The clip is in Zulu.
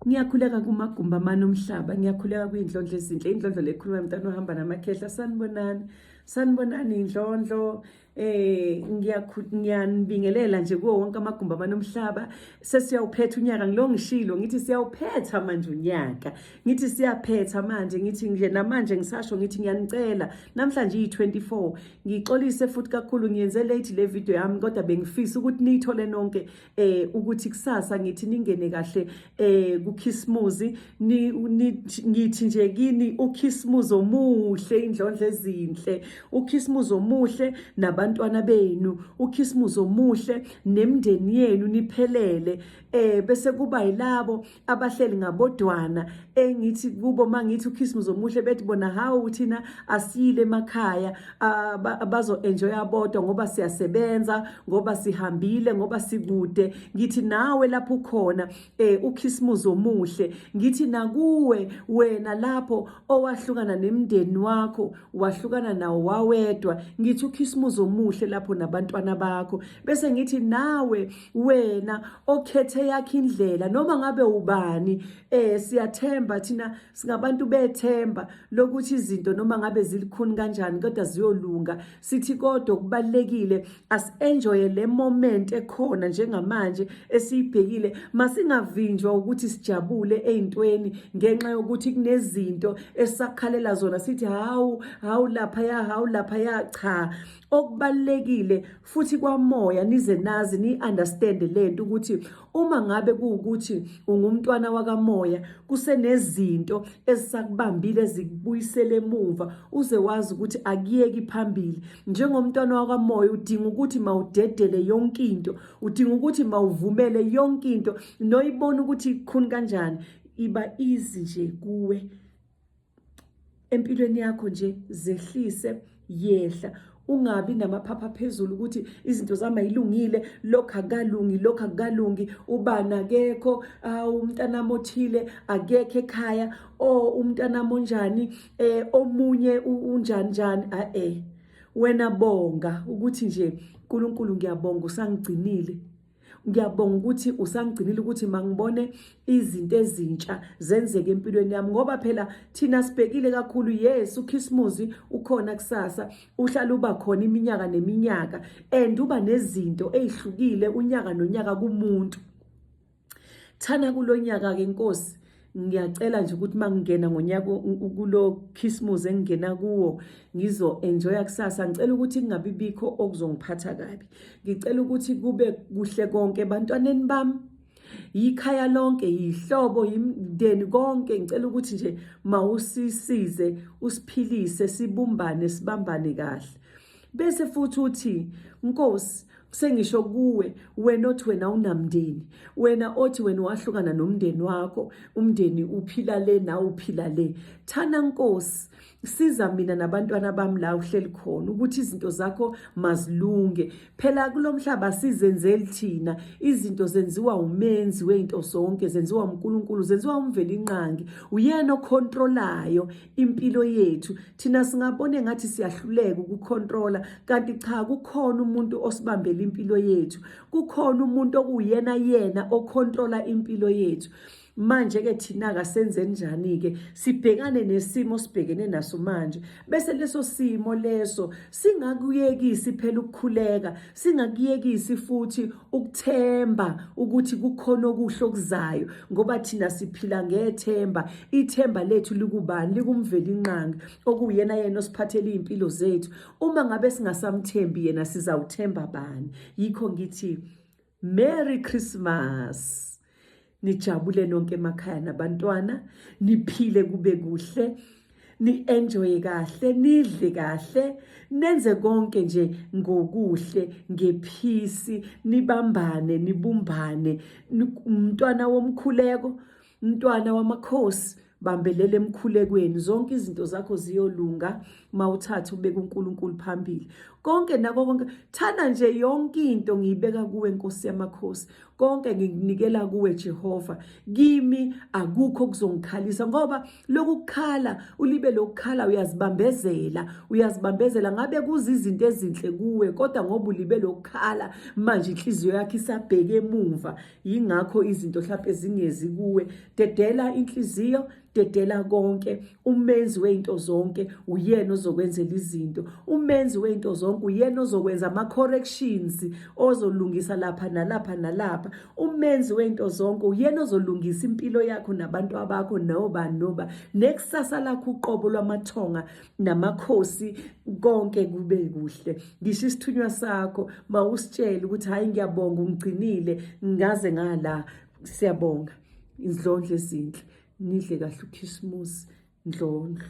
Ngiyakhuleka kumagumbi amane omhlaba, ngiyakhuleka kuyindlondlo ezinhle, indlondlo lekhuluma mntana ohamba namakhehla, sanibonani, sanibonani indlondlo eh ngiyanibingelela nje kuwo wonke amagumbi amane omhlaba sesiyawuphetha unyaka ngilo ngishilo ngithi siyawuphetha manje unyaka ngithi siyaphetha manje ngithi nje namanje ngisasho ngithi ngiyanicela namhlanje iyi24 ngixolise futhi kakhulu ngiyenze late le video yami kodwa bengifisa ukuthi niyithole nonke eh ukuthi kusasa ngithi ningene kahle eh kukhisimuzi ngithi nje kini ukhisimuzi omuhle indlondla ezinhle ukhisimuzi omuhle nabantwana benu ukhisimuzi omuhle nemndeni yenu niphelele eh bese kuba yilabo abahleli ngabodwana engithi kubo mangithi ukhisimuzi omuhle bethi bona hawu thina asiyile emakhaya bazo-enjoy abodwa ngoba siyasebenza ngoba sihambile ngoba sikude ngithi nawe lapho ukhona um eh, ukhisimuzi omuhle ngithi nakuwe wena lapho owahlukana nemndeni wakho wahlukana nawo wawedwa ngithi ukhisimuzi omuhle lapho nabantwana bakho bese ngithi nawe wena okhethe yakhe indlela noma ngabe ubani eh siyathemba thina singabantu bethemba lokuthi izinto noma ngabe zilikhuni kanjani kodwa ziyolunga sithi kodwa kubalekile as enjoy le moment ekhona njengamanje esiyibhekile masingavinjwa ukuthi sijabule eintweni ngenxa yokuthi kunezinto esakhalela zona sithi hawu hawu lapha ya hawu lapha ya cha okubalekile futhi kwamoya nize nazi ni-understand le nto ukuthi uma ngabe kuwukuthi ungumntwana wakamoya kusenezinto ezisakubambile ezikubuyisele emuva uze wazi ukuthi akuyeki phambili njengomntwana wakamoya udinga ukuthi mawudedele yonke into udinga ukuthi mawuvumele yonke into noyibona ukuthi ikhuni kanjani iba easy nje kuwe empilweni yakho nje zehlise yehla ungabi namaphapha phezulu ukuthi izinto zami ayilungile lokho akalungi lokho akalungi ubani akekho umntanami othile akekho ekhaya o umntanami onjani eh omunye unjani njani a eh wena bonga ukuthi nje uNkulunkulu ngiyabonga usangigcinile ngiyabonga ukuthi usangigcinile ukuthi mangibone izinto ezintsha zenzeke empilweni yami ngoba phela thina sibhekile kakhulu yes ukhisimuzi ukhona kusasa uhlala uba khona iminyaka neminyaka and uba nezinto ezihlukile unyaka nonyaka kumuntu thana kulonyaka ke inkosi ngiyacela nje ukuthi uma ngingena ngonyaka kulo khisimuzi engingena kuwo ngizo-enjoya kusasa ngicela ukuthi kungabi bikho okuzongiphatha kabi ngicela ukuthi kube kuhle konke ebantwaneni bami yikhaya lonke yihlobo yimndeni konke ngicela ukuthi nje mawusisize usiphilise sibumbane sibambane kahle Bese futhi uthi Nkosi sengisho kuwe wena othi wena unamndeni wena othi wena wahlukana nomndeni wakho umndeni uphila le na uphila le thana nkosi siza mina nabantwana bami la uhleli khona ukuthi izinto zakho mazilunge phela kulomhlaba sizenzeli thina izinto zenziwa umenzi wezinto zonke zenziwa uNkulunkulu zenziwa umveli inqangi uyena ocontrolayo impilo yethu thina singabone ngathi siyahluleka ukucontrola kanti cha kukhona umuntu osibambela impilo yethu kukhona umuntu okuyena yena ocontrola impilo yethu manje ke thina kasenze njani ke sibhekane nesimo sibhekene naso manje bese leso simo leso singakuyekisi phela ukukhuleka Singakuyekisi futhi ukuthemba ukuthi kukhona okuhle okuzayo ngoba thina siphila ngethemba. Ithemba lethu likubani? Likumvelinqangi okuyena yena osiphathele izimpilo zethu. Uma ngabe singasamthembi yena sizawuthemba bani? Yikho ngithi Merry Christmas. nijabule nonke emakhaya nabantwana niphile kube kuhle ni-enjoye kahle nidle kahle nenze konke nje ngokuhle ngephisi nibambane nibumbane umntwana womkhuleko umntwana wamakhosi bambelela emkhulekweni zonke izinto zakho ziyolunga mawuthatha ubeka uNkulunkulu phambili konke nako konke thanda nje yonke into ngiyibeka kuwe Nkosi yamakhosi konke ngikunikela kuwe Jehova kimi akukho kuzongikhalisa ngoba lokukhala ulibe lokukhala uyazibambezela uyazibambezela ngabe kuzizinto ezinhle kuwe kodwa ngoba ulibe lokukhala manje inhliziyo yakhe isabheke emuva yingakho izinto mhlawumpe zingezi kuwe dedela inhliziyo dedela konke umenzi wezinto zonke uyena ozokwenzela izinto umenzi wezinto zonke uyena ozokwenza ama corrections ozolungisa lapha nalapha nalapha umenzi wezinto zonke uyena ozolungisa impilo yakho nabantu abakho noba noba nekusasa lakho uqobo lwamathonga namakhosi konke kube kuhle ngisho isithunywa sakho mawusitshele ukuthi hayi ngiyabonga ungigcinile ngaze ngala siyabonga indlondlo ezinhle nidle kahle ukhisimusi ndlondlo